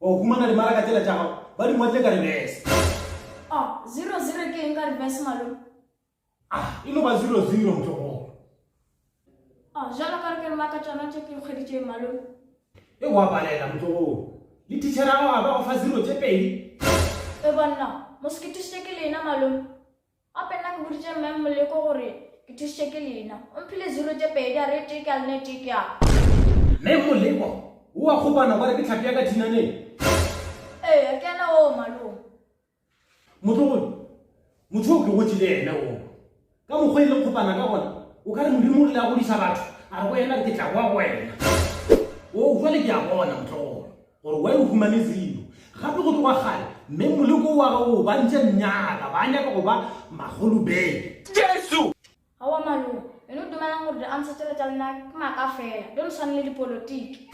Wa go humana dimaraka tsela tša gago, ba di ngwadile ka reverse. Oh, zero zero ke eng ka reverse malome? Ah, e no ba zero zero motlogolo. Oh, jalo ka re ke rema ka tšona tše ke nkgweditšeng malome? E wa balela motlogolo. Le teacher gago a ba go fa zero tše pedi? E bonna, mo seketišitše ke lena malome. Gape nna ke boditše Mme Moleko gore ke thušitše ke lena. O mphile zero tše pedi a re tee ke a lena e tee ke ya ka. Mme Moleko o a kgopana gore ke hlapi ya ka dinaneng. Eya, ke yena oo, malome. Motlogolo, motho yo ke gotše le yena oo. Ka mokgwa e leng kgopana ka gona, o ka re Modimo o rile a godiša batho, a re go yena, Ke tla boa go wena. Oo, bjale ke a bona, motlogolo. Gore wa e humane zelo. Gape go tloga kgale, mme moleko o wa gago o ba ntše nnyaka, ba nyaka go ba magolobele. Jesu! Aowa malome, wena o dumelang gore di-ancestor tša lena ke maaka fela, don't swane le dipolotiki.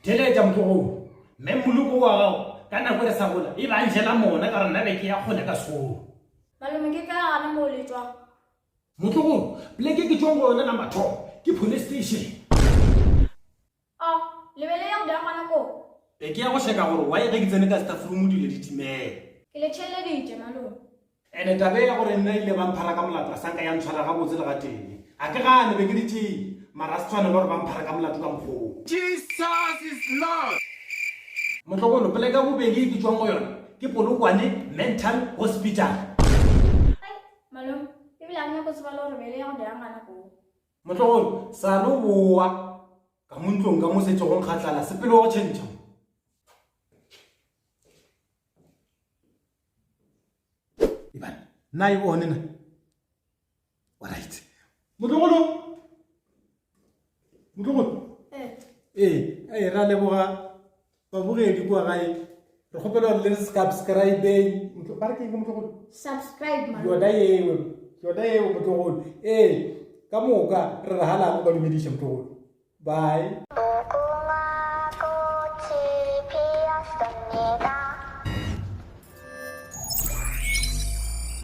Theletša motlogolo, mme moleko o wa gago, ka nako e re sa gola, e be a njela mona ka gore nna be ke ya kgole ka sekolo. Malome, ke ka gana moo le tšwang. Motlogolo, pleke ke tšwang go yona la mathomo ke police station. O, le be le ya go dira gona koo? E, ke ya go šeka gore why ge ke tsene ka stafroom dilo di timele. Ke le theeleditše, malome. And taba e ya gore nna ile ba mphara ka molato a sa nka ya ntshwara gabotse le gatee. A ke gane, be ke le tšee, mara a se tshwanela gore ba mphara ka molato ka mokgwa woo. Jesus is Lord! Motlogolo, poleke ya bobedi e ke tšwang go yona ke Polokwane Mental Hospital. Ai, malome, ebile a ke nyake go tseba le gore be le ya go dira gona koo? Motlogolo, sa no boa ka mo ntlong ka mo se tsogong ga tlala sepelo go tšhentšha. Ibane, na e bone na. All right. Motlogolo. Motlogolo. Eh. Eh, eh ra leboga. babogedi kua gae re kgopela gore le subscribeng ba re ke eng motlogolo subscribe yona eo yona eo motlogolo ee ka moka re re galang ba dumediša motlogolo bye